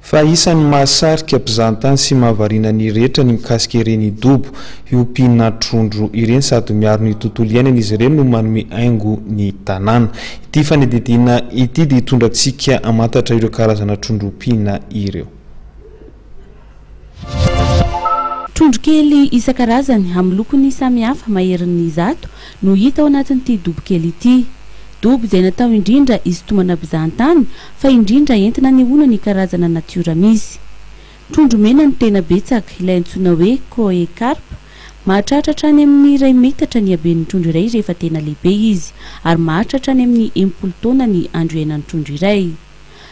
Fa isan'ny mahasarika mpizahantany sy mahavariana ny rehetra ny mikasika ireny dobo hiompiana trondro ireny sady miaro ny tontolo iainana izy ireny no manome haingo ny tanàna. Ity fanadihadiana ity dia hitondra antsika hamantatra ireo karazana trondro ompiana ireo. Trondro kely isan-karazany amin'ny lokony samy hafa maherin'ny zato no hita ao anatin'ity dobo kely ity. Dobo izay natao indrindra hisintomana mpizahan-tany fa indrindra entina anehoana ny karazana natiora misy. Trondro mena no tena betsaka, ilay antsoina hoe Koi carp. Mahatratra hatrany amin'ny iray metatra ny haben'ny trondro iray rehefa tena lehibe izy, ary maharitra hatrany amin'ny enimpolo taona ny andro iainan'ny trondro iray.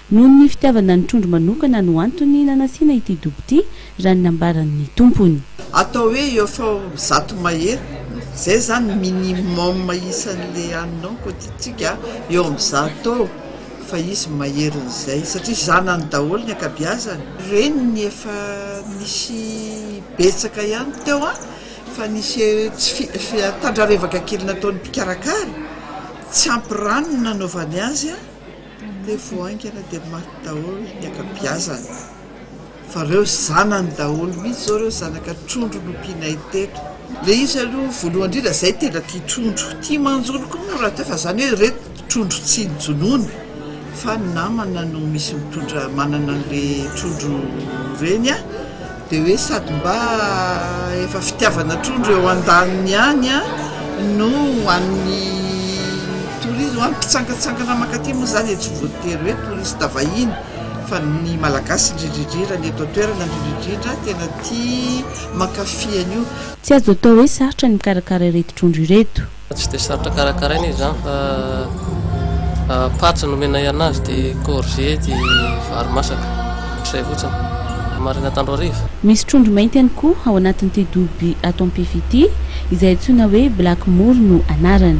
Noho ny fitiavana ny trondro manokana no antony nanasiana ity dobo ity, raha ny nambaran'ny tompony. Atao hoe eo faomy zato mahery, izay izany minimum isan'ilay any nao koa ity tsika eo amin'ny zato eo fa izy maherin'izay satria zanany daholo ny ankabiazany, reniny efa nisy betsaka ihany teo an, fa nisy tsy tandra revaka kely nataon'ny mpikarakara, tsy ampy rano no nanaovany azy an. Dia vao haingana dia maty daholo ny ankabiazany. Fa ireo zanany daholo mihitsy izao ireo zanaka trondro nompianay teto. Ilay izy aloha voalohany indrindra izay tena tia trondro. Tia manjono koa moa rahateo fa izany hoe ireto trondro tsy nojonoiny fa ny namana no misy mitondra manana an'ilay trondro reny. Dia hoe sady mba efa fitiavana trondro eo andaniny ihany no ho an'ny tourisme, ho an'ny mpitsangantsangana mankaty moa izany e, tsy voatery hoe touriste vahiny fa ny malagasy indrindrindrindra, ny eto an-toerana indrindrindrindra tena tia mankafy an'io. Tsy azo atao hoe sarotra ny mikarakara ireto trondro ireto. Tsy dia sarotra karakaraina izy izany fa patsa no omenay anazy dia courgette dia vary masaka, izay fotsiny. Maraina tandro hariva. Misy trondro mainty ihany koa ao anatin'ity dobo by ato Ampifi ity, izay antsoina hoe black moor no anarany.